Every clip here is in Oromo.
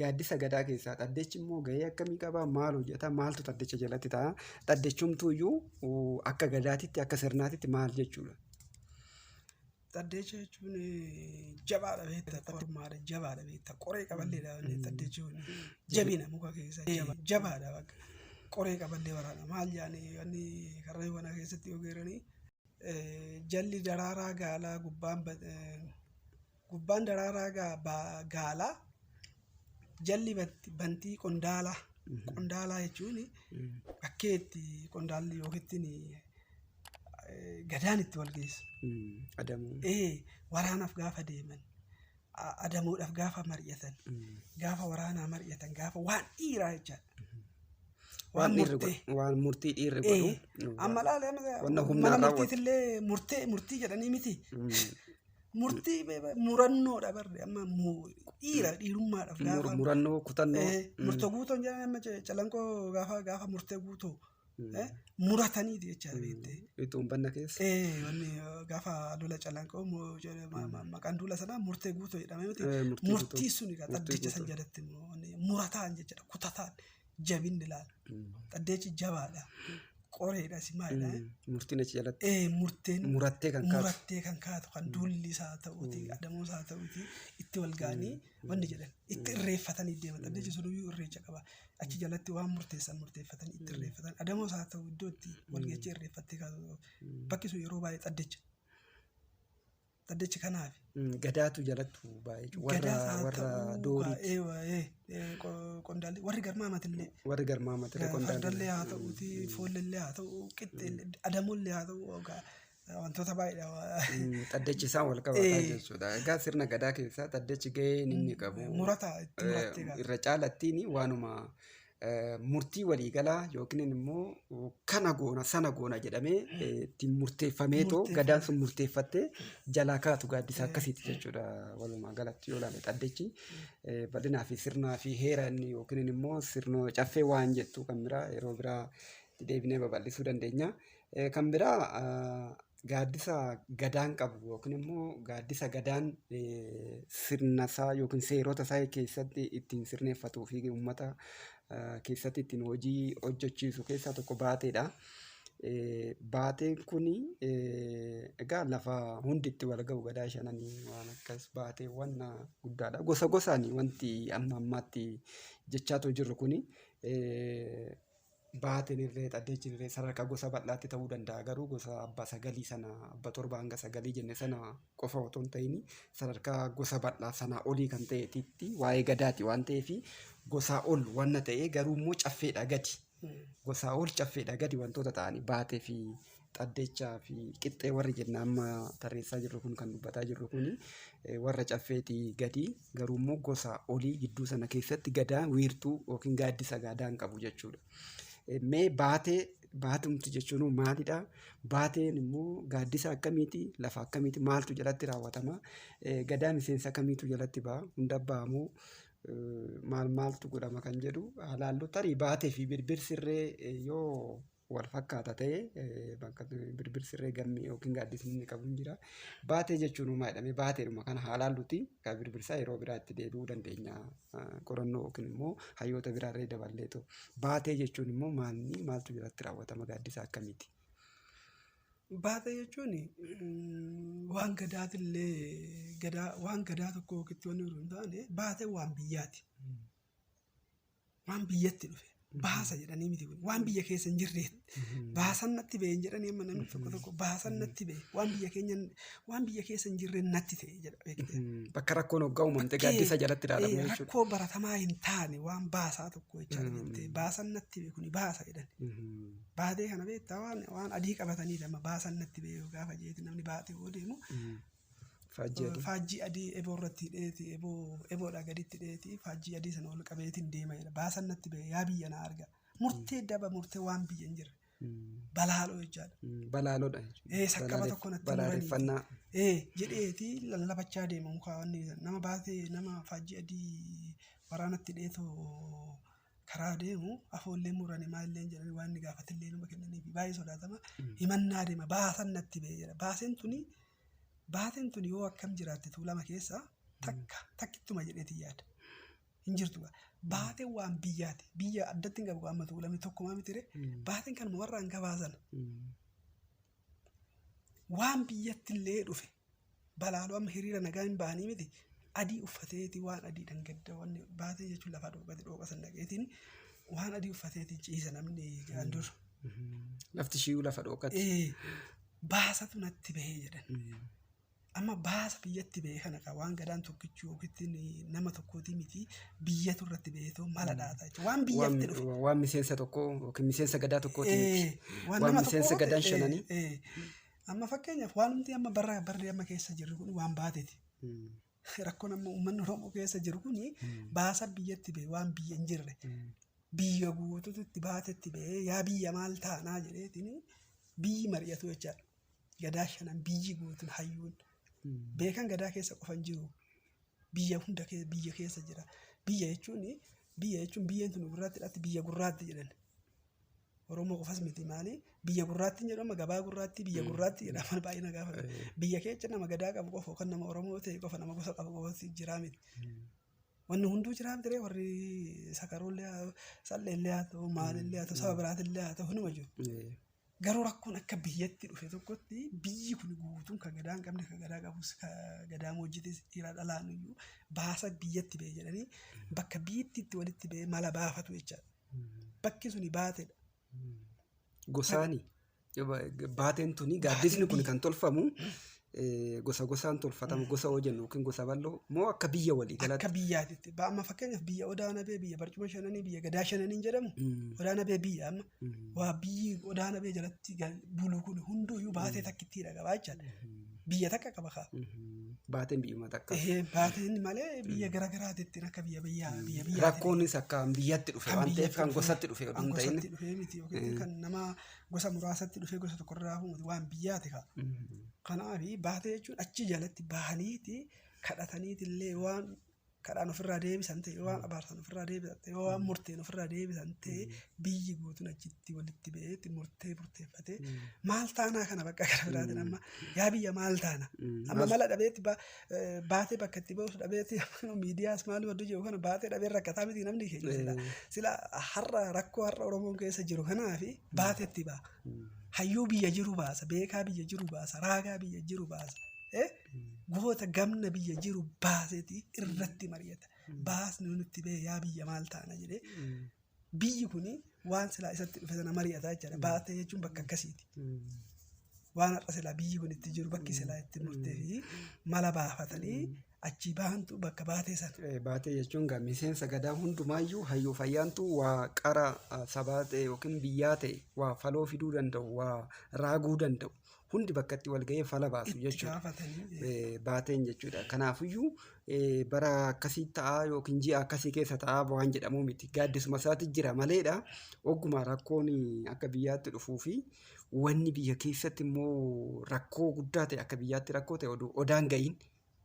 Gaaddisa gadaa keessaa xaddechi immoo gahee akkamii qaba? Maal hojjeta? Maaltu xaddecha jalatti ta'a? Xaddechumtuu iyyuu akka gadaatitti akka sirnaatitti maal jechuudha? Xaddeecha jechuun jabaadha beekta kormaadha jabaadha beekta qoree qaballeedha xaddeechi kun jabina muka keessa jabaadha bakka qoree qaballee waraana maal yaani wanni karra wana keessatti ogeeranii jalli daraaraa gaalaa gubbaan gubbaan daraaraa gaalaa Jalli bantii qondaalaa. Qondaalaa jechuun bakkee itti qondaalli yookiin gadaan itti wal geessu. Adamoo. Ee waraanaaf gaafa deeman adamoodhaaf gaafa mari'atan gaafa waraanaa mari'atan gaafa waan dhiiraa jecha. Waan dhiirri godhu. Waan murtii dhiirri godhu. Amma laala Wanna humnaa mana raawwatu. murtiitillee murtee murtii jedhanii miti. Murtii be- be- murannoodha barri amma mu- dhiira dhiirummaadhaaf Mur- gaafa murannoo kutannoo Eh, Mm. murtoo guutoon jedhan amma ce- calanqoo gaafa gaafa murtee guutoo Mm. eh, murataniiti jechaa beekte. Ituun banna keessa. Eh, wanni eh, gaafa lola calanqoo mo- jedhe- ma- ma- maqaan duula sanaa murtee guutoo jedhame miti. Eh, murtii Murtii guutuu. suni gaa Murtii xaddicha san guutuu. jalatti immoo wanni murataan jechuudha kutataan jabinni ilaala. Dhaddeechi jabaadha. Qoreedha si maalidha. Murtiin achi jalatti Ee murteen murattee kan kaatu. murattee kan kaatu kan duulli isaa ta'uuti adamoo isaa ta'uuti itti wal ga'anii wanni jedhan itti irreeffatanii deeman dhaddeechi sun iyyuu irreecha qaba achi jalatti waan murteessan murteeffatan itti irreeffatan adamoo isaa ta'u iddoo itti wal ga'ee irreeffattee kaatu bakki sun yeroo baay'ee dhaddeecha Dhaddacha kanaafi. Mm, Gadaatu jalattu baay'ee jechuudha. Warra Gadaas haa warra ta'uu doorii kaa- ee, waa, ee, ee, qo- qondaalli warri garmaamatillee warri garmaama ture qondaalli. fardallee haa ta'uuti foollellee haa ta'u qixxeellee adamollee haa ta'u ogaa, wantoota baay'eedha waa- Mm, Dhaddachi isaan wal qabataa Eh. jechuudha. Egaa sirna gadaa keessaa dhaddachi gaheen inni qabu murata itti murattee eh, irra caalattiin waanuma murtii waliigalaa yookiin immoo kana goona sana goona jedhamee ittiin murteeffamee too gadaan sun murteeffattee jalaa kaatu gaaddisaa akkasiiti jechuudha walumaa galatti yoo ilaalle xaddechi bal'inaa fi sirnaa fi heera inni yookiin immoo sirnoo caffee waan jettu kan biraa yeroo biraa deebinee babal'isuu dandeenya. Kan biraa gaaddisa gadaan qabu yookiin immoo gaaddisa gadaan sirna isaa yookiin seerota isaa keessatti ittiin sirneeffatuu fi uummata keessatti ittiin hojii hojjechiisu keessaa tokko baateedha. Baateen kun egaa lafa hundi itti wal ga'u gadaa shananii waan akkas baateewwan guddaadha. Gosa gosaan wanti amma ammaatti jechaatoo jirru kun baateen irree xaddeechi irree sadarkaa gosa bal'aatti ta'uu danda'a garuu gosa abba sagalii sana abba torba hanga sagalii jenne sana qofa otoo hin ta'in sadarkaa gosa bal'aa sanaa olii kan ta'eetitti waa'ee gadaati waan ta'eef gosaa ol wanna ta'ee garuu immoo caffeedha gadi gosaa ol caffeedha gadi wantoota ta'anii baatee fi Xaddechaa fi qixxee warri jenna amma tarreessaa jirru kun kan dubbataa jirru kun warra caffeetii gadi garuu immoo gosa olii gidduu sana keessatti gadaa wiirtuu yookiin gaaddisa gaadaa hin qabu jechuudha. Mee baatee baatumti jechuun maalidha? Baateen immoo gaaddisa akkamiiti? Lafa akkamiiti? Maaltu jalatti raawwatama? Gadaa miseensa kamiitu jalatti ba'a? Hunda ba'a moo maal maaltu godhama kan jedhu haa laallu. Tarii baatee fi birbir sirree yoo wal fakkaata ta'e bakka birbir sirree gammee yookiin gaaddisni inni qabu hin jira. Baatee jechuun uumaa jedhamee baateedhuma kana haalaan luti kan birbirsaa yeroo biraatti deebi'uu dandeenya qorannoo yookiin immoo hayyoota biraarree daballeetu. Baatee jechuun immoo maalni maaltu irratti raawwatama gaaddisa akkamiiti? Baatee jechuun waan gadaatillee gadaa waan gadaa tokko yookitti wanni hin taane baatee waan biyyaati. waan biyyatti dhufe baasa jedhanii miti kun waan biyya keessa hin jirreet baasan natti ba'e hin jedhanii amma namni tokko tokko baasan natti ba'e waan biyya keenya waan biyya keessa hin jirre natti ta'e jedha beekte. Bakka rakkoon hoggaa uumamte gaaddisa jalatti ilaalama Eh, jechuudha. Rakkoo baratamaa hin taane waan baasaa tokko jechaa Mm. jirte baasan natti ba'e kuni baasa jedhan Mhm. baatee kana beektaa waan waan adii qabatanii lama baasan natti ba'e yoo gaafa jeeti namni baatee yoo deemu Mhm. Faajjii adii. faajjii adii eboo irratti hidheeti eboo eboodhaa gaditti hidheeti faajjii adii sana ol qabeetiin deema jedha baasan natti ba'e yaa biyya na arga murtee daba murtee waan biyya hin jirre balaaloo jechaadha Mm, Balaaloodha jechuudha. ee saqqaba Balaalef- tokko natti muranii Balaaleffannaa. ee jedheeti lallabachaa deema mukaa wanni nama baatee nama faajjii adii waraanatti hidheetu karaa deemu afoollee murani maallee hin jedhani waan inni gaafatillee numa kennaniifi baay'ee sodaatama himannaa deema baasan natti ba'e jedha baaseen tuni baateen tuni yoo akkam jiraatte tuulama keessa takka takkittuma jedheeti yaada hin jirtu gaa. baateen waan biyyaati biyya addatti hin qabu amma tuulame tokkumaa mitire baateen kanuma warraan gabaasan waan biyyattillee dhufe Balaaloo amma hiriira nagaa hin bahanii miti adii uffateeti waan adiidhan gadda wanni baatee jechuun lafaa dhooqate dhooqa san dhaqeetiin waan adii uffateeti ciisa namni jedhan dur. Lafti shiiyuu lafa dhooqate. Ee, baasatu natti bahee jedhan. Amma baasa biyyatti bahee kana kaa waan gadaan tokkichi yookiin nama tokkootii miti biyyatu irratti baheetoo mala dhaata jechuudha. Waan biyyatti dhufe. Waan waan miseensa tokkoo yookiin miseensa gadaa tokkootii miti. Ee, Waan miseensa tokko- gadaan ee, shananii. ee, Amma fakkeenyaaf waanumti amma barra barri amma keessa jirru kun waan baateti. Rakkoon amma uummanni Oromoo keessa jiru kun baasa biyyatti ba'e waan biyya hin jirre. Biyya guututu itti baatetti ba'ee yaa biyya maal taanaa jedheetiin biyyi mari'atu jechaadha. Gadaa shanan biyyi guutuun hayyuun beekan gadaa keessa qofa hin jiru. Biyya hunda kee- biyya keessa jira. Biyya jechuun biyya jechuun biyyeen tun gurraatti dhatti biyya gurraatti jedhan. Oromoo qofas miti maali biyya gurraattiin jedhama gabaa gurraattii biyya gurraattii jedhama baay'ee na gaafata. Biyya keecha nama gadaa qabu qofa yookaan nama Oromoo ta'e qofa nama gosa qabu qofatti jiraa miti. Wanni hunduu jiraa miti warri sakaroollee haa ta'u salleellee haa ta'u maalillee haa ta'u saba biraatillee haa ta'u hunduma jiru. Garuu rakkoon akka biyyatti dhufe tokkotti biyyi kun guutuun kan gadaa hin qabne kan gadaa qabus kan gadaa moojjitis dhiiraa dhalaan iyyuu baasa biyyatti ba'e jedhanii bakka biyyitti itti walitti ba'e mala baafatu jechaadha. Bakki suni baateedha. Gosaani baateen tuni gaaddisni kun kan tolfamu eh, gosa gosaan tolfatama gosa hoo jennu yookiin gosa bal'oo moo akka biyya walii Akka galatti. biyyaatitti. Ba- Amma fakkeenyaaf biyya odaa nabee biyya barcuma shananii biyya gadaa shananiin jedhamu Mm. odaa nabee biyya amma Mm. waa biyyi odaa nabee jalatti gal- bulu kun hunduu iyyuu baatee takkittiidha qabaa jechaadha. biyya takka qaba kaa. Baateen biyyuma takka. Ehee, Baateen malee biyya gara garaatitti akka biyya biyyaa biyya biyyaa. Rakkoonis akka biyyatti dhufe waan ta'eef kan gosatti dhufe oduu hin ta'in. Gosatti dhufee miti yookiin kan nama gosa muraasatti dhufee gosa tokko irraa hafu miti waan biyyaati kaa. Kanaaf baatee jechuun achi jalatti bahaniiti kadhataniiti illee waan kadhaan ofirraa deebisan ta'e yoo waan abaarsan ofirraa deebisan ta'e yoo waan murteen ofirraa deebisan ta'e biyyi guutuun achitti walitti ba'eetti murtee murteeffatee maal taanaa kana bakka kana biraatiin amma yaa biyya maal taana amma mala dhabeetti ba- eh, baatee bakka itti ba'us dhabeetti amma miidiyaas maalii wadduu jiru kana baatee dhabee rakkataa miti namni keenya sila sila har'a rakkoo har'a oromoon keessa jiru kanaa fi baatee itti ba'a hayyuu biyya jiru baasa beekaa biyya jiru baasa raagaa biyya jiru baasa eh? goota gamna biyya jiru baaseeti irratti mari'ata. Baasni yoo nutti ba'e yaa biyya maal taana jedhee biyyi kun waan silaa isatti dhufe sana mari'ata jechaadha. Baasa jechuun bakka akkasiiti. Waan har'a silaa biyyi kun itti jiru bakki silaa itti murtee fi mala baafatanii achii bahantu bakka baatee sana. Eh, Baatee jechuun gaa miseensa gadaa hundumaayyuu hayyuu fayyaantu waa qara ah, sabaa ta'e yookiin biyyaa ta'e waa faloo fiduu danda'u, waa raaguu danda'u. hundi bakka itti wal ga'ee fala baasu Itti jechuudha. gaafatanii eh, Eh, baateen jechuudha. Kanaafiyyuu eh, bara akkasii ta'a yookiin ji'a akkasii keessa ta'a waan jedhamuu miti. Gaaddisuma isaati jira maleedha. Ogguma rakkoon akka biyyaatti dhufuu fi wanni biyya keessatti immoo rakkoo guddaa ta'e akka biyyaatti rakkoo ta'e oduu odaan ga'iin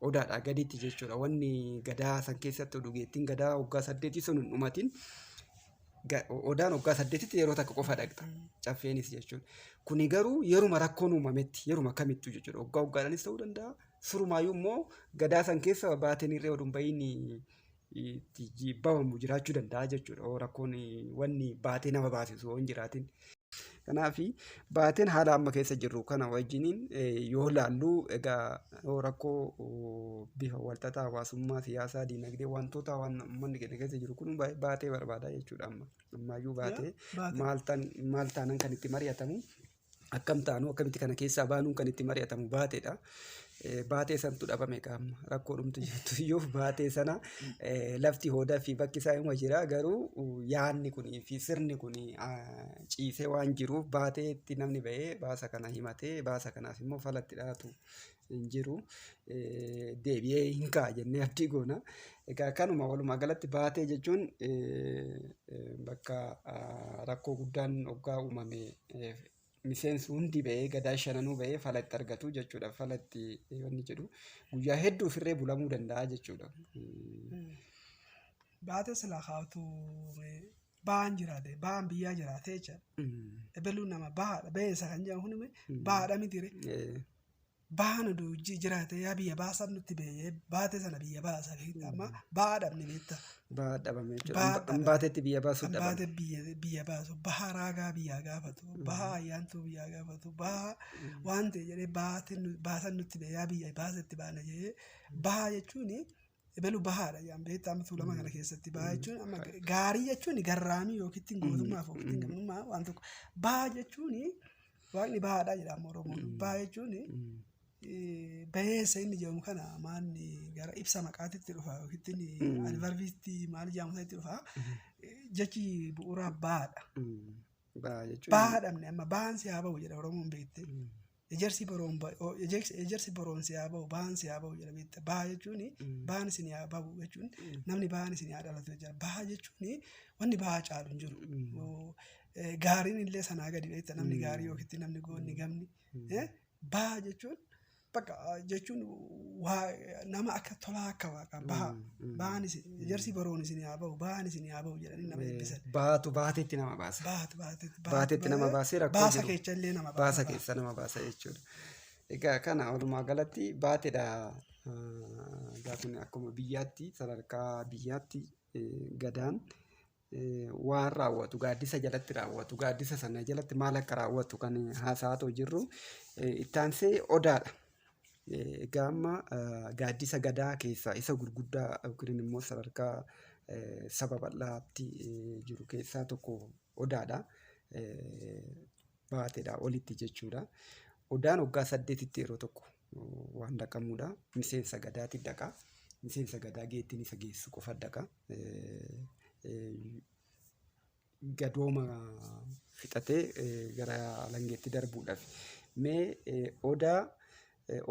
odaadhaa gaditti jechuudha. Wanni gadaa san keessatti dhugeettiin gadaa waggaa saddeetii sun hin dhumatin odaan waggaa saddeetitti yeroo takka qofa dhaqxa. Caffeenis jechuudha. Kuni garuu yeruma rakkoon uumametti yeruma kamittuu jechuudha. Waggaa waggaadhaanis ta'uu danda'a. Surumaayyuu immoo gadaa san keessa baateen irree oduun bahiin itti jibbamu jiraachuu danda'a jechuudha. Oo rakkoon wanni baatee nama baasisu yoo hin jiraatin. Kanaaf baateen haala amma keessa jirru kana wajjiniin yoo laallu egaa yoo rakkoo bifa walxaxaa hawaasummaa, siyaasaa, diinagdee wantoota waan uummanni keenya keessa jiru kun baatee barbaada jechuudha amma. Ammaayyuu baatee maal taanan kan itti mari'atamu akkam taanu akkamitti kana keessaa baanuun kan itti mari'atamu baateedha. Baatee santu dhabame qaama rakkoo dhumtu jirtu iyyuu baatee sana lafti hoodaa fi bakki isaa hima jira garuu yaanni kunii fi sirni kun ciisee waan jiruuf baateetti namni ba'ee baasa kana himatee baasa kanaaf immoo falatti dhaatu hin jiru. Eh, Deebi'ee hin ka'a jennee abdii goona. Egaa kanuma walumaa galatti baatee jechuun eh, eh, bakka ah, rakkoo guddaan oggaa uumame eh, miseensi hundi ba'ee gadaa shananuu ba'ee fala itti argatu jechuudha. Fala itti eh, wanni jedhu guyyaa hedduu ofirree bulamuu danda'a jechuudha. Eh, Baatee silaa kaa'utu ba'aan jiraate ba'aan biyyaa jiraate jechaadha. mm, Ebeluun nama bahaadha ba'eessa kan jedhamu kun bahaadha mitiire. eh, bahan oduu jiraate yaa biyya baasan nutti bee- baate sana biyya baasa beekta amma baha dhabne beekta Baha dhabame jechuudha. Baha Hamba- dhabame. Hambaateetti biyya baasuu dhabame. baate biyya biyya baasu baha raagaa biyyaa gaafatu baha ayyaantuu biyyaa gaafatu baha waan ta'e jedhee baate nu- baasan nutti bee yaa biyya baasetti baana jedhee baha jechuun Ebelu bahaadha jedhan beektaa amma tuulama kana keessatti bahaa jechuun amma gaarii jechuun garraamii yookiin ittiin gootummaaf yookiin ittiin gamnummaa waan tokko bahaa jechuun waaqni bahaadha jedha amma oromoon bahaa jechuun eh, baheessa inni jedhamu kana maanni gara ibsa maqaatitti dhufa yookiin ittiin advarbiitti maal jedhamu sanatti dhufa Eh, jechi bu'uuraa bahaadha. Baa jechuun. Bahaa dhabne amma bahaan si haa bahu jedha oromoon beekte. Ejersi boroon ba- o- ejersi ejersi boroon si haa ba'u ba'aan si haa ba'u jedhamee itti ba'a jechuun ba'aan isin haa ba'u jechuun namni ba'aan isin haa dhalatu jira ba'a jechuun wanni ba'a caalu hin jiru Oo, eh, gaariin illee sanaa gadi beekta namni gaarii yookitti namni goonni gamni eh, ba'a jechuun bakka ah, jechuun waa nama akka tolaa akka waaqa ba'a Ba'aan isin ijarsi baroon isin haa ba'u ba'aan isin haa ba'u jedhanii nama eebbisan. Baatu baatetti nama baasa. Baatu baatu Baatetti nama baasee rakkoo baasa jiru. keessa illee nama baasa baasa. keessa nama baasa jechuudha. Egaa kana walumaa galatti baatedha. Egaa kun akkuma biyyaatti sadarkaa biyyaatti eh, gadaan waan raawwatu gaaddisa jalatti raawwatu gaaddisa sana jalatti maal akka raawwatu kan haasa'aatoo jirru ittaansee odaadha. Egaa amma gaaddisa gadaa keessaa isa gurguddaa yookiin immoo sadarkaa saba bal'aatti jiru keessaa tokko odaadha. Baateedha olitti jechuudha. Odaan waggaa saddeetitti yeroo tokko waan dhaqamuudha. Miseensa gadaati dhaqa. Miseensa gadaa geettiin isa geessu qofa dhaqa. Gadooma fixatee gara alangeetti darbuudhaaf. Mee odaa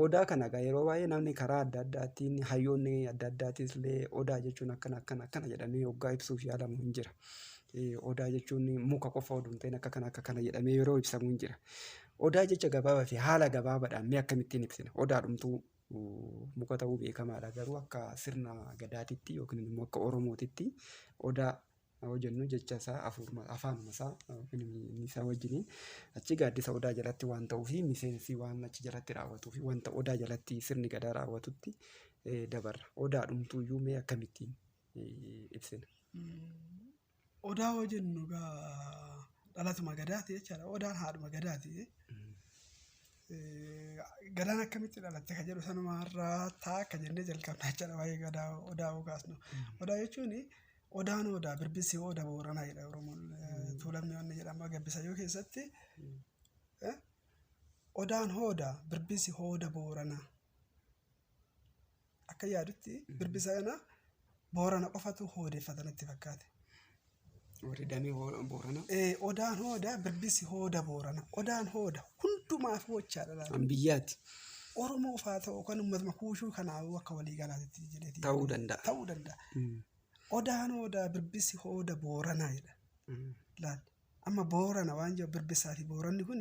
odaa kana egaa yeroo baay'ee namni karaa adda addaatiin hayyoonni adda addaatiis illee odaa jechuun akkana akkana akkana jedhamee oggaa ibsuuf yaalamu hin jira. Odaa jechuun muka qofa oduu hin ta'in akka kana akka kana jedhamee yeroo ibsamu hin jira. Odaa jecha gabaabaa fi haala gabaabaadhaan mee akkamittiin ibsina? Odaadhumtuu muka ta'uu beekamaadha. Garuu akka sirna gadaatitti yookiin immoo akka Oromootitti odaa yoo jennu jecha isaa afuuruma afaanuma isaa yookiin inni isaa wajjiniin achi gaaddisa odaa jalatti waan ta'uu fi miseensi waan achi jalatti raawwatuu fi wanta odaa jalatti sirni gadaa raawwatutti eh, dabarra. Odaadhumtuu iyyuu mee akkamittiin eh, ibsina? Odaa yoo jennu egaa dhalatuma gadaati jechaadha. Odaan haadhuma gadaati. Eh, Gadaan akkamitti dhalatte kan jedhu sanuma irraa ta'a akka jennee jalqabna jechaadha waa'ee gadaa odaa yoo kaasnu. Odaa jechuun odaan odaa birbissi oda booranaa jedha Oromoon eh, tuulamni wanni jedhama gabbisayyoo keessatti. Eh, Odaan hooda birbissi hooda booranaa. Akka yaadutti birbisa kana Boorana qofatu hoodeeffata natti fakkaate. Warri damee Boorana. Odaan hooda birbisi hooda Boorana. Odaan hooda hundumaaf hochaadha laata. Kan biyyaati. Oromoo faa ta'u kan uummatuma kuushuu kanaafuu akka walii galaatti jedhee Ta'uu danda'a. ta'uu danda'a. Odaan hooda birbisi hooda Booranaa jedha. Laal. Amma Boorana waan jiru Birbissaa fi Booranni kun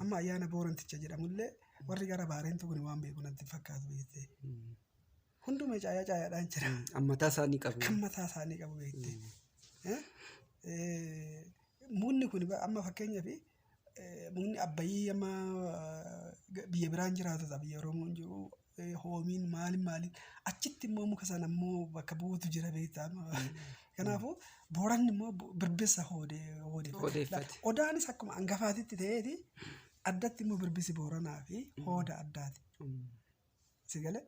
amma ayyaana Booranticha jedhamullee warri gara Baareentuu kun waan beeku natti hin fakkaatu beekte. Hundumee caayaa caayaadhaan jira. Kan mataa isaa ni qabu. Kan mataa isaa ni qabu beekte. Eh? Eh, Mukni kun ba- amma fakkeenyaaf eh, mukni abbayii amma eh, biyya biraan jiraatu ta'a biyya Oromoon jiru hoomiin maaliin maaliin achitti immoo muka sana immoo bakka bu'uutu jira beektaa kanaafuu booranni immoo birbissa hoodee hoodeeffate odaanis akkuma angafaatitti ta'eeti addatti immoo birbisi booranaa fi hooda addaati sigale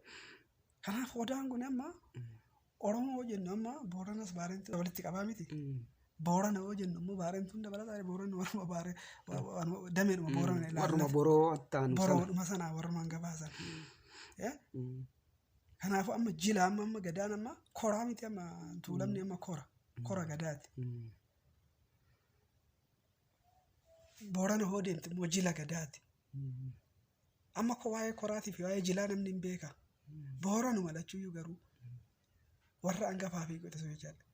kanaaf odaan kun amma Oromoo yoo jennu amma Booranas Baarentu walitti qabaa miti. Boorana yoo jennu immoo Baarentuun dabalataa Booranni warruma Baare dameedhuma Boorana ilaalla. Warruma boroo attaanu sana. Boroodhuma sanaa warrumaan gabaasan. Eh? Kanaafuu amma jila amma amma gadaan amma koraa miti amma tuulamni amma kora. Kora gadaati. Boorana hoo deemte immoo jila gadaati. Amma ko waa'ee koraatii fi waa'ee jilaa namni hin beeka. Booranuma lachuyyuu garuu warra angafaa fi quxisuu jechaadha.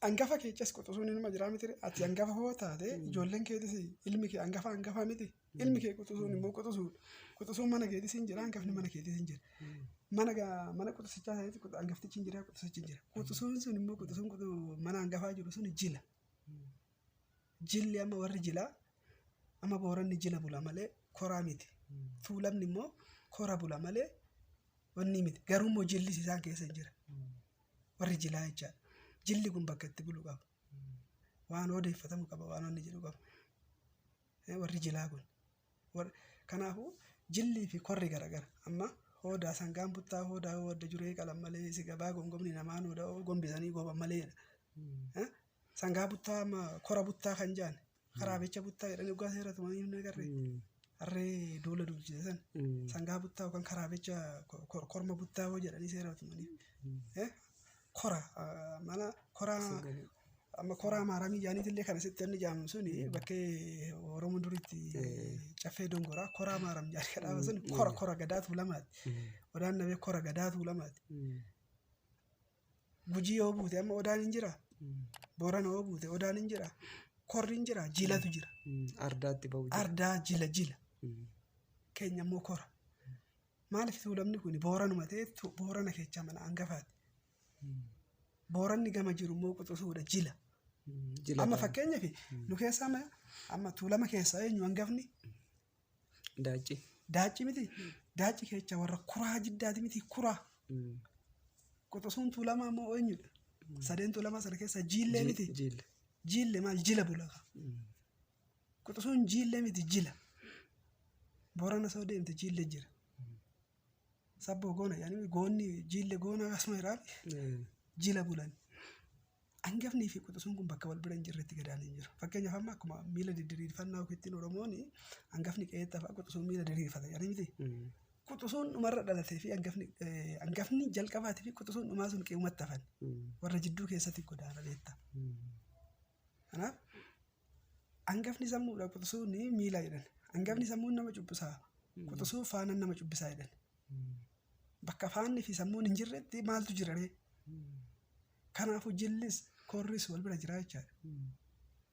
Angafa keechas quxisuun inuma jiraa miti ati angafa hoo taate ijoolleen keetis ilmi kee angafa angafa miti ilmi kee quxisuun immoo quxisuun quxisuun mana keetis hin jira angafni mana keetis hin jira. Mana ga- mana quxisichaa ta'eeti quxu- angaftichi hin jira quxisichi hin jira. Quxisuun sun immoo quxisuun quxu- mana angafaa jiru sun jila. Jilli amma warri jilaa amma booranni jila bula malee koraa miti. Tuulamni immoo kora bula malee wanni miti. Garuu immoo jillis isaan keessa hin jira. Warri jilaa jechaadha. Jilli kun bakka itti bulu qaba. Waan odeeffatamu qaba, waan inni jedhu qaba. Eh, Warri jilaa kun. Kanaafuu jillii fi korri garagara. Amma hoodaa sangaan buttaa hoodaa yoo adda juree qalan malee si gabaa gomgomni namaa nuudha oo gombisanii goban malee jedha. Eh? Sangaa buttaa amma kora buttaa kan jaan karaa becha buttaa jedhanii dhugaa seera tumanii hin agarre. Harree duula duulchise san sangaa buttaa yookaan karaa becha ko- ko- korma buttaa yoo jedhanii seera tumanii. Eh? Kora ah, mana koraa Amma koraa maaramii jaaniitillee kan asitti anni jaamu suni bakkee Oromoon duritti caffee dongoraa koraa maaram jaanii kan dhaaban suni kora kora gadaa tuulamaati. Odaan nabee kora gadaa tuulamaati. Gujii yoo buute amma odaan hin jira. Boorana yoo buute odaan hin jira. Korri hin jira. Jilatu jira. Ardaatti ba'u jira. Ardaa jila jila. Keenya immoo kora. Maaliif tuulamni kun booranuma ta'e tu- boorana keechaa mana hangafaati. Booranni gama jiru immoo quxusuudha jila. Jila Amma ta'a. fakkeenyaaf nu keessaa amma- amma tuulama keessaa eenyu hangafni Daacci. daacci miti daacci kecha warra kuraa jiddaati miti kuraa Mm. quxusuun tuulamaa immoo eenyudha sadeen tuulamaa sana keessaa jiillee Ji- miti Jille. jiille maal jila bulaka Mm. quxusuun jiillee miti jila boorana soo deemte jiille jira Sabboo goona jedhanii goonni jiille goona akkasuma jedhaan jila bulan. Hangafnii fi quxusuun kun bakka wal bira hin jirretti gadaan hin jiru. Fakkeenyaaf amma akkuma miila didiriirfannaa ofiittiin Oromoon hangafni qe'eetti hafa quxusuun miila diriirfata jedhanii miti. Quxusuun dhumarra dhalatee fi hangafni eh, hangafni jalqabaatii fi quxusuun dhumaa sun qe'umatti hafan. Warra jidduu keessatti godaana beekta. Kanaaf hangafni sammuudha quxusuun miila jedhan. Hangafni sammuun nama cubbisaa quxusuu faanan nama cubbisaa jedhan. Bakka faanni fi sammuun hin jirretti maaltu jira ree? Kanaafuu jillis korris wal bira jira jechaadha.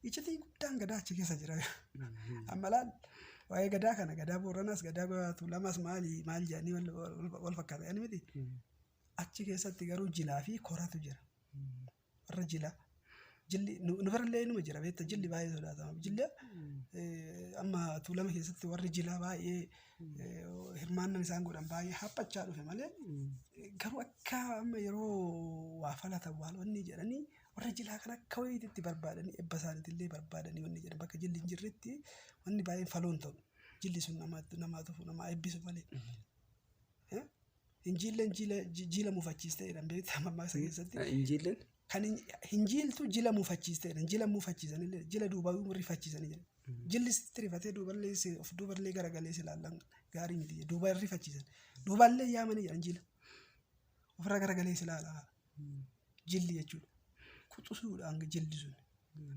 Iccitii guddaan gadaa achi keessa jira. Amma laal waa'ee gadaa kana gadaa Booranaas gadaa Goyaatu lamas maali maal jedhanii wal- wal- wal fakkaata jedhanii miti. Achi keessatti garuu jilaa fi koratu jira. Warra jilaa. Jilli nu nu birallee inuma jira beekta jilli baay'ee sodaatama. Jilli eh, amma tuulama keessatti warri jilaa baay'ee eh, hirmaannan isaan godhan baay'ee haphachaa dhufe malee eh, garuu akka amma yeroo waa falatan waan wanni jedhanii warra jilaa kan akka wayiitti itti barbaadanii ebba isaaniitillee barbaadanii wanni jedhan bakka jilli hin jirretti wanni baay'een faloon ta'u. Jilli sun namaatti namaa tufu namaa eebbisu malee. Eh? Hin jiilleen jiila ji- jiila mufachiiste jedhan beektaa mammaaksa keessatti. Ah, Hin jiilleen? Kan hin- hin jiiltu jila mufachiiste jedhan. Jila mufachiisanillee jila duubaa rifachiisanii jedhan. Jilli sitti rifatee duuballee si- of duuballee garagalee si ilaallan gaarii miti jedhe. Duuba hin rifachiisan. Duubaallee yaamanii jedhan jila. Ofirra garagalee si ilaala. Jilli jechuudha. Quxusuudhaan jilli sun.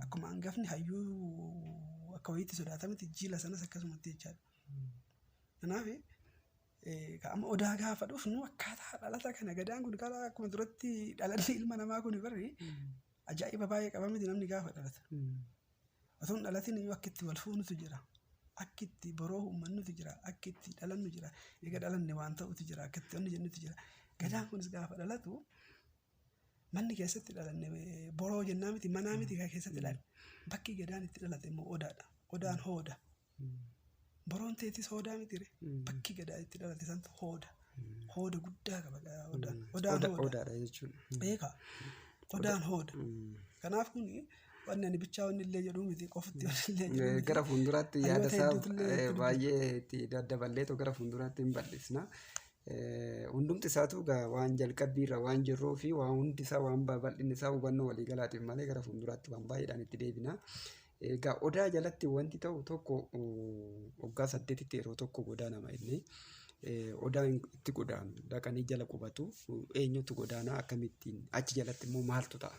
Akkuma hangafni hayyuu akka wayiitti sodaatametti jila sanas akkasumatti jechaadha. Kanaaf Egaa amma odaa gaafa dhufnu akkaataa dhalata kana gadaan kun karaa akkuma duratti dhalanni ilma namaa kun barri ajaa'iba baay'ee qaba miti namni gaafa dhalata. Otoo hin dhalatin iyyuu akka itti wal fuunutu jira. Akka itti boroo uummannutu jira. Akka itti dhalannu jira. Egaa dhalanne waan ta'utu jira. Akka itti wanni jennutu jira. Gadaan kunis gaafa dhalatu Manni keessatti dhalanne boroo jennaa miti manaa miti kan keessatti dhalanne. Bakki gadaan itti dhalate immoo odaadha. Odaan hooda. Boroon teetis hoodaa miti ree. Bakki gadaa itti dhalate santu hooda. Hooda guddaa qaba gaa odaan. Odaan Oda- hooda. Odaadha jechuun. Beekaa. Odaan hooda. Kanaaf kun wanni ani bichaa wanni illee jedhuu miti qofatti wanni illee jedhuu Eh, miti. Gara fuulduraatti Hayyoota yaada isaa hedduutu illee eh, itti baay'ee itti daddaballeetu gara fuulduraatti hin bal'isna. Hundumti isaatu egaa waan jalqabbii irra waan jirruu fi waan hundi isaa waan babal'inni isaa hubannoo walii galaatiif malee gara fuulduraatti waan baay'eedhaan itti deebina. Egaa odaa jalatti wanti ta'u tokko waggaa saddeetitti yeroo tokko godaanama inni. Odaan itti godaanu dhaqanii jala qubatu eenyutu godaanaa akkamittiin achi jalatti immoo maaltu ta'a?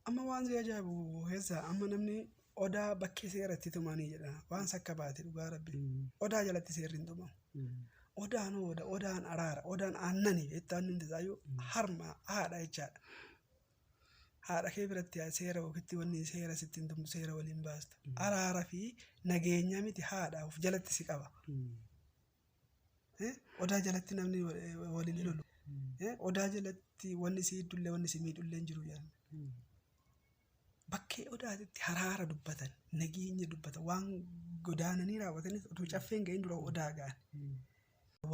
Amma waan si ajaa'ibu keessa amma namni odaa bakkee seeratti tumanii jedha waan sakka baate dhugaa rabbi odaa jalatti seerri hin tumamu. Odaan oda odaan araara odaan aannani jettee aannan tasaayyuu harma haadha jechaadha. Haadha kee biratti yaa seera ofitti wanni seera sitti hin tumtu seera waliin baastu. Araara fi nageenya miti haadha of jalatti si qaba. Odaa jalatti namni waliin hin lolu. Odaa jalatti wanni si hiddullee wanni si miidhullee hin jiru jedhan. Bakkee odaatitti haraara dubbatan, nageenya dubbatan, waan godaananii raawwatanis utuu caffeen ga'in dura odaa ga'an.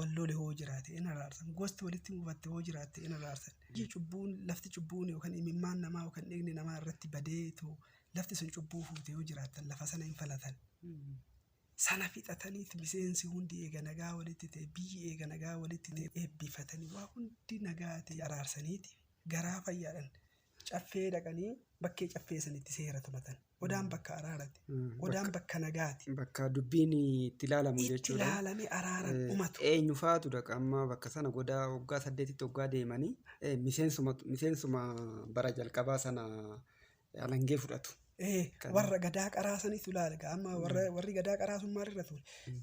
Wal lole hoo jiraate in araarsan, gosti walitti mufatte hoo jiraatte in araarsan. Iji cubbuun, lafti cubbuun yookaan imimmaan namaa yookaan dhiigni namaa irratti badeetu lafti sun cubbuu fuute yoo jiraattan lafa sana hin falatan. Sana fixataniit miseensi hundi eega nagaa walitti ta'e, biyyi eega nagaa walitti ta'e eebbifatanii waa hundi nagaa ta'e araarsaniiti garaa fayyaadhan caffee dhaqanii bakkee caffee sanitti seera tumatan. Odaan bakka araarati. Odaan bakka nagaati. Bakka dubbiin itti ilaalamu Itti jechuudha. ilaalanii araaran Eh, umatu. Eenyu faatu dhaqa amma bakka sana godaa waggaa saddeetitti waggaa deemanii eh, miseensuma miseensuma bara jalqabaa sana Alangee fudhatu. Ee, Kan- warra gadaa qaraa sanitu ilaale gaa amma warra warri gadaa qaraa sun maalirra ture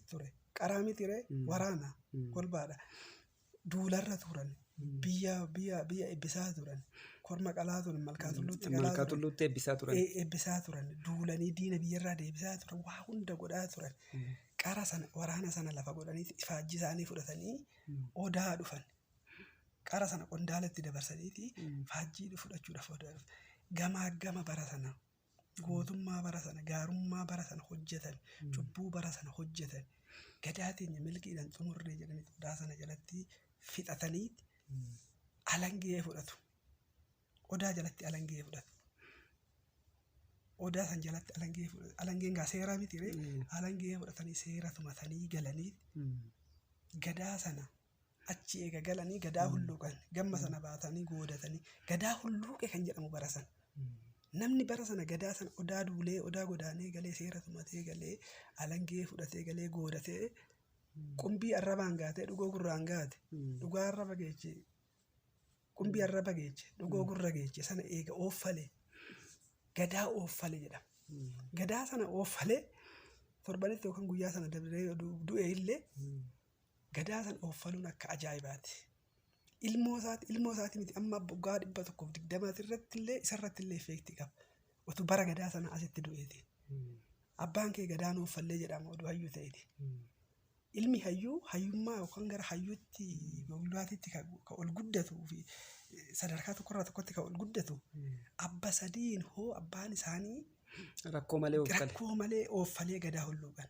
ture qaraa mitire Mm. waraana Mm. kolbaadha duularra turan Mm. biyya biyya biyya ebbisaa turan korma qalaa turan malkaa tulluutti qalaa Malkaa turan tulluutti eebbisaa turan. e- ebbisaa turan duulanii diina biyyarraa deebisaa turan waa hunda godhaa turan Mm. qara sana waraana sana lafa godhanii ifaajji isaanii fudhatanii Mm. odaa dhufan Qara sana qondaalatti dabarsaniiti faajjii fudhachuudhaaf odaa dhufte. Gamaaggama bara sana, gootummaa bara sana, gaarummaa bara sana hojjetan, cubbuu bara sana hojjetan, gadaa teenya milkiidhaan xumurree jedhanii odaa sana jalatti fixatanii alangee fudhatu. Odaa jalatti alangee fudhatu. Odaa san jalatti alangee fudhatu. Alangeen gaa seeraa miti ree? Alangee fudhatanii seera tumatanii galanii gadaa sana Achi eega galanii gadaa hulluuqan. Gamma sana baatanii goodatanii. Gadaa hulluuqe kan jedhamu bara sana. Namni bara sana gadaa sana odaa duulee, odaa godaanee galee, seera tumatee galee, alangee fudhatee galee goodatee qumbii arrabaan gaatee dhugoo gurraan gaate. Dhugaa arraba geeche. Qumbii arraba geeche. Dhugoo gurra geeche. Sana eega ooffalee. Gadaa ooffalee jedhama. Gadaa sana ooffalee torbanitti yookaan guyyaa sana dabree yoo du- du'e illee Gadaa san ooffaluun akka ajaa'ibaati. Ilmoo isaati, ilmoo isaati miti amma waggaa dhibba tokkoof digdamaati irratti illee isa irratti illee effeektii qaba. Otuu bara gadaa sana asitti du'eeti. Abbaan kee gadaan ooffallee jedhama oduu hayyuu ta'eeti. Ilmi hayyuu hayyummaa yookaan gara hayyuutti goglaatiitti kan kan ol guddatuu fi eh, sadarkaa tokkorraa tokkotti kan ol guddatu abba sadiin hoo abbaan isaanii Rakkoo malee of kale. rakkoo malee ooffalee gadaa hulluuqan.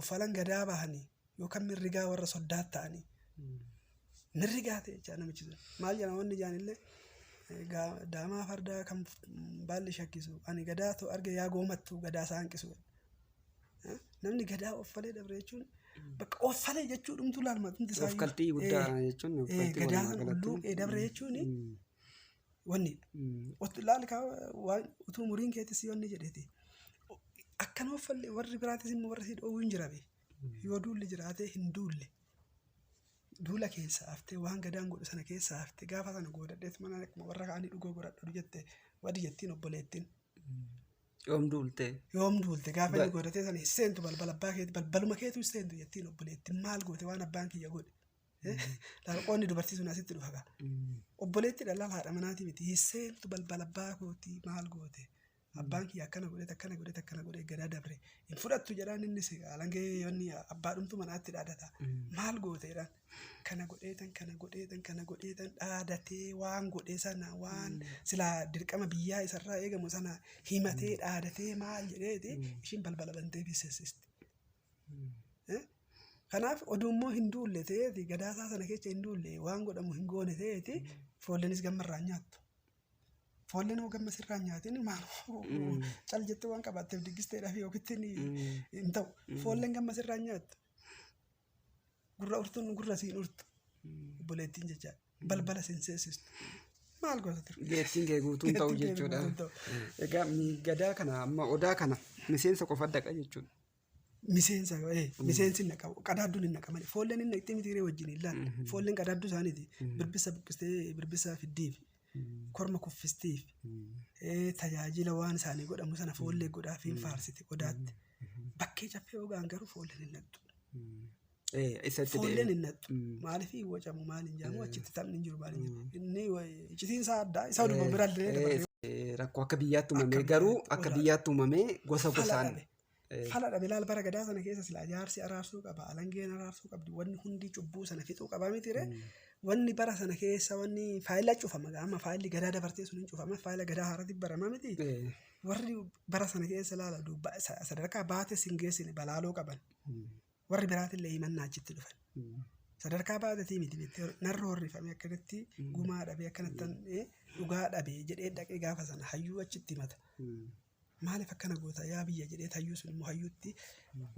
uffalan gadaa bahanii yookaan mirrigaa warra soddaat ta'anii mirrigaa ta'e jechaa namichi sun maal jedhama wanni jaan illee daamaa fardaa kan baalli shakkisu ani gadaa too arge yaa goomattu gadaa isaa hanqisu namni gadaa offalee dabre jechuun bakka offalee jechuu dhumtuu laalmatumti isaa Ofkaltii guddaa jechuun ofkaltii gadaa walumaa san galatti. ulluuqee dabre jechuun Mm. Wanni ot- laal kaa waan utuu muriin keetti si wanni jedheeti. Akka nama falle warri biraatis immoo warri si dhoowwu hin jirabe. Yoo duulli jiraatee hin duulle. Duula keessa haftee waan gadaan godhu sana keessa haftee gaafa sana goodadheet mana akkuma warra kaanii dhugoo godhadhu jette wadi jettiin obboleettiin. Yoom duultee? Yoom duulte gaafa inni Ba- goodatee sana hin seentu balbala abbaa keetti balbaluma keetu hin seentu jettiin obboleettiin maal goote waan abbaan kiyya godhe. Qoonni dubartii sun asitti dhufa gaa. Obboleetti dhalaa haadha manaati miti. Hisseentu balbala abbaa kooti maal goote? Abbaan kiyya akkana godhe akkana godhe akkana godhe gadaa dabre. Hin fudhattu jedhaan innis alangee yoonni abbaa dhumtu manaatti dhaadata. Maal goote jedhaan. Kana godheetan kana godheetan kana godheetan dhaadatee waan godhe sana waan silaa dirqama biyyaa isarraa eegamu sana himatee dhaadatee maal jedheeti ishiin balbala bantee fi sessisti. Kanaaf oduu immoo hin duulle ta'eeti gadaasaa sana keessa hin duulle waan godhamu hin goone ta'eeti foollenis gamma irraa nyaattu. Foolleen hoo gamma sirraa nyaatiin maal cal jettee waan qabaatteef diggisteedhaaf yookitti hin ta'u. Foolleen gamma sirraa nyaattu. Gurra urtuun gurra siin urtu. Obboleettiin jechaa balbala siin seesistu. Maal goota ture? Geettiin kee guutuun ta'u jechuudha. Egaa gadaa kana amma odaa kana miseensa qofa dhaqa jechuudha. Miseensa eh, miseensi naqa qadaadduun hin naqamani. Foolleen hin naqxee miti hiree wajjin hin laalle. Foolleen qadaadduu isaaniiti. Birbissa buqqistee birbissa fiddiif. Korma kuffistiif. Eh, Tajaajila waan isaanii godhamu sana foollee godhaaf hin faarsiti qodaatti. Bakkee caffee ogaan garuu foolleen hin naqxu. Eh, isatti Foolleen deebi'e. hin naqxu. Maaliif hin wacamu maal hin jaamu achitti taphni hin jiru maal hin jiru. Inni wa- iccitiin isaa addaa isa oduma biraa illee dabalatee. Eh, rakkoo akka biyyaatti uumamee Akka garuu biyyaatti akka biyyaatti uumamee gosa fala gosaan dhabe. Fala dhabe laal bara gadaa sana keessa silaa jaarsi araarsuu qaba alangeen araarsuu qabdi wanni hundi cubbuu sana fixuu qaba mitiire wanni bara sana keessa wanni faayila cufama amma faayilli gadaa dabartee sun hin cufama faayila gadaa haarati barama miti warri bara sana keessa laala duuba sa- sadarkaa baates hin geessine balaaloo qaban warri biraatillee himannaa achitti dhufan sadarkaa baatetii miti beektee narra horrifame akkanatti gumaa dhabe akkanattan eh, dhugaa dhabe jedhee dhaqee gaafa sana hayyuu achitti himata Maaliif akkana goota yaa biyya jedhee hayyuu sun immoo hayyuutti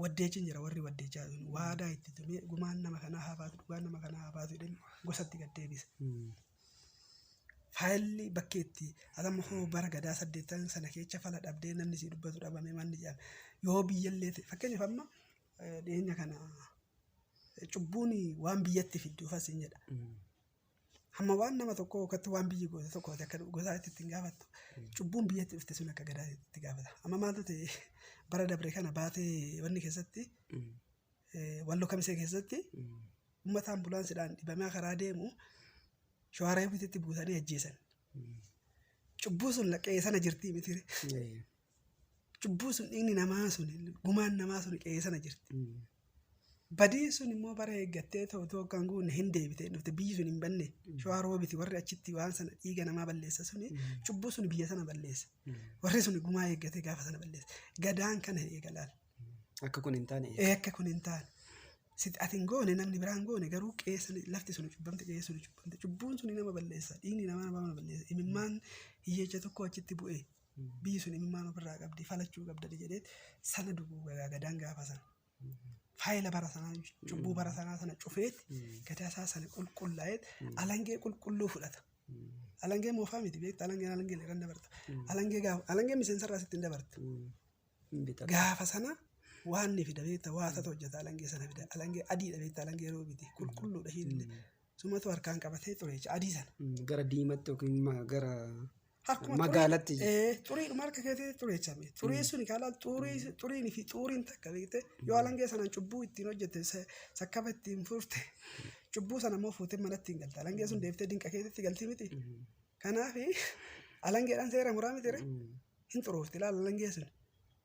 waddeechiin jira warri waddeechaa sun waadaa itti tumee gumaan nama kanaa haa baatu dhugaan nama kanaa haa baatu jedheen gosatti gad deebise. Faayilli bakkee itti atamma koo bara gadaa saddeettan sana keessa fala dhabdee namni si dubbatu dhabame manni jedhame yoo biyyallee ta'e fakkeenyaaf amma eh, dhiyeenya kana eh, cubbuun waan biyyatti fiddu fasiin jedha. Hamma waan nama tokkoo yookaan waan biyyi goote tokkooti akka gosaa itti ittiin gaafattu cubbuun biyyatti dhufte sun akka gadaa itti gaafata. Amma maaltu ta'e bara dabre kana baatee wanni keessatti walloo kamisee keessatti uummata ambulaansidhaan dhibamaa karaa deemu shawaaraa bititti buusanii ajjeesan. Cubbuu sun laqqee sana jirti miti. Cubbuun sun dhiigni namaa sun gumaan namaa sun qe'ee sana jirti. Badiin sun immoo bara eeggattee ta'u ta'u kan guunne hin deebite hin dhufte biyyi sun hin banne shawaa roobiti warri achitti waan sana dhiiga namaa balleessa suni cubbuu sun biyya sana balleessa. Warri sun gumaa eeggatee gaafa sana balleessa. Gadaan kana eegalaan. Akka kun hin taane. Ee akka kun hin taane. Sit ati hin goone namni biraa hin goone garuu qe'ee sana lafti sun cubbamte qe'ee sun cubbamte cubbuun sun nama balleessa dhiigni namaa nama balleessa imimmaan hiyyeecha tokko achitti bu'ee. dubbii sun imimmaan ofirraa qabdi falachuu qabdani jedhee sana duguuga gaa gadaan gaafa sana. Faayila bara sanaa cubbuu bara sanaa sana cufeet gadaa isaa sana qulqullaa'eet alangee qulqulluu fudhata. Alangee moofaa miti beekta alangeen alangee irra hin dabarta. Alangee gaafa alangeen miseensa irraa sitti hin dabarta. Gaafa sana waan ni fida beekta waa tata hojjeta alangee sana fida alangee adiidha beekta alangee roobiti qulqulluudha hiillee sumatu harkaan qabatee ture jecha adii sana Gara diimatti yookiin ma- gara harkuma magaalatti xurii- ee, xuriidhuma harka keetii ture jecha beekta xurii sun kaalaa xurii xuriin fi xuuriin takka beekte yoo alangee sanaan cubbuu ittiin hojjette sa- sakkaba ittiin furte cubbuu sana immoo fuutee manatti hin galte alangee sun deeftee dinqa keetitti galti miti kanaaf alangeedhaan seera muraa miti Hin xuroofti ilaala langee sun.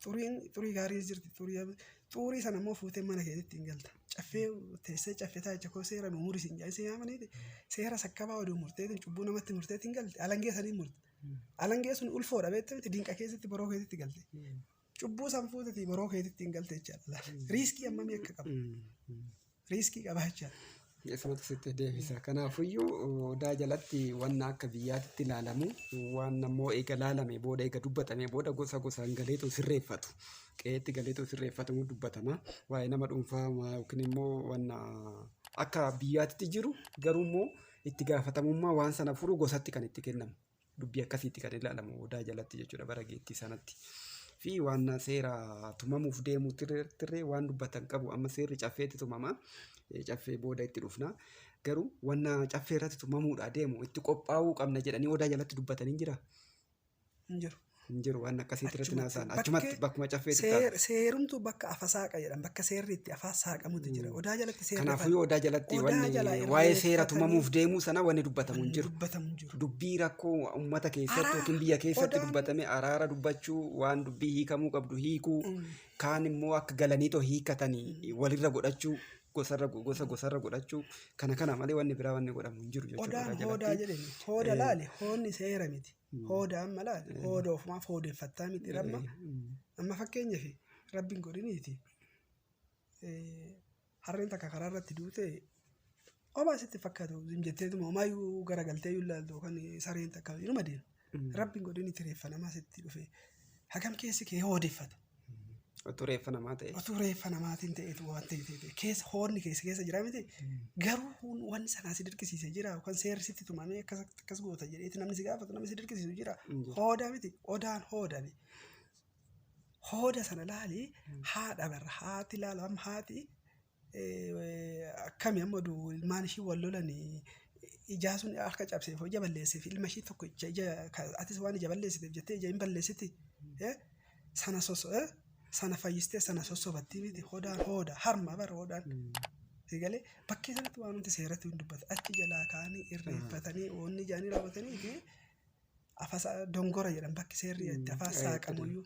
Xuriin xurii gaariis jirti xurii ab- xuurii sana immoo fuutee mana keetitti hin galta. Caffee teessee caffee taayicha koo seera nu muri siin jaayisee yaamaniiti seera sakkabaa oduu murteetiin cubbuu namatti murteetiin galti alangee saniin murte. Alangee sun ulfoodha beekte miti dinqa keessatti boroo keetitti galte. Cubbuu san fuutetii boroo keetitti hin galte jechaadha. Riiskii ammamii akka qabu. riiskii qabaacha. Isumatu sitti deebisa. Kanaafuyyuu odaa jalatti wanna akka biyyaatitti ilaalamu waan ammoo eega laalame booda eega dubbatame booda gosa gosaan galeetoo sirreeffatu. Qe'eetti galeetoo sirreeffatamu dubbatama. Waa'ee nama dhuunfaa yookiin immoo wanna akka biyyaatitti jiru garuu immoo itti gaafatamummaa waan sana furu gosatti kan itti kennamu. dubbii akkasiitti kan ilaalamu odaa jalatti jechuudha bara geettii sanatti. Fi waan seera tumamuuf deemu tirree waan dubbatan qabu amma seerri caffeetti tumama caffee booda itti dhufna garuu wanna caffee irratti tumamuudha deemu itti qophaa'uu qabna jedhanii odaa jalatti dubbatanii jira. Hin jiru. Hin jiru waan akkasiitti irratti Achumatti naasaan bakkee- achumatti bakkuma caffeetti ta'a. Seer, seerumtu bakka afa saaqa jedhan bakka seerri itti afaa saaqamutu jira odaa jalatti seerri Kanaafuu afaan- yoo odaa jalatti Odaa wanni jalaa irraa waa'ee seera eeggatanii- tumamuuf deemuu sana wanni dubbatamu hin jiru. dubbatamu hin jiru Dubbii rakkoo uummata keessatti Araara. yookiin biyya keessatti Odaan- dubbatame araara dubbachuu waan dubbii hiikamuu qabdu hiikuu kaan immoo akka galanii too hiikatanii walirra godhachuu gosarra gosa gosarra godhachuu kana kana malee wanni biraa wanni godhamu hin jiru jechuudha. odaan odaa hoodaa jalatti. jedhani hooda laali hoonni seera miti Hooda amma laal hooda ofumaaf hoodeffattaa miti ramma amma fakkeenyaaf rabbiin godhiniiti harreen takka karaa irratti duute homaa sitti fakkaatu hin jetteetuma homaayyuu garagaltee iyyuu ilaaltu kan sareen takka inuma deema rabbiin godhiniiti reeffa namaa sitti dhufe hagam keessi kee hoodeffata Utuu reeffa namaa ta'e. Utuu reeffa namaatiin ta'etu waan ta'e keessa hoonni keessa keessa jira miti. Garuu huun waan sanaa si dirqisiise jira yookaan seerri sitti tumamee akkas akkas goota jedheeti namni si gaafatu namni si dirqisiisu jira. Hooda miti odaan hooda miti. Hooda sana laali haadha barra haati laala amma haati akkami amma du ilmaan ishii wal lolani ijaa sun harka cabseef ija balleesseef ilma ishii tokkicha ija atis waan ija balleessiteef jettee ija hin balleessiti sana soso sana fayyistee sana sossobattii miti hodaan hooda harma bara hoodaan egalee bakkee sanatti waan nuti seeratti hin dubbatu achi jalaa kaanii irreeffatanii oonni ijaanii raawwatanii fi afasa dongora jedhan bakki seerri itti afaan saaqamuyyuu.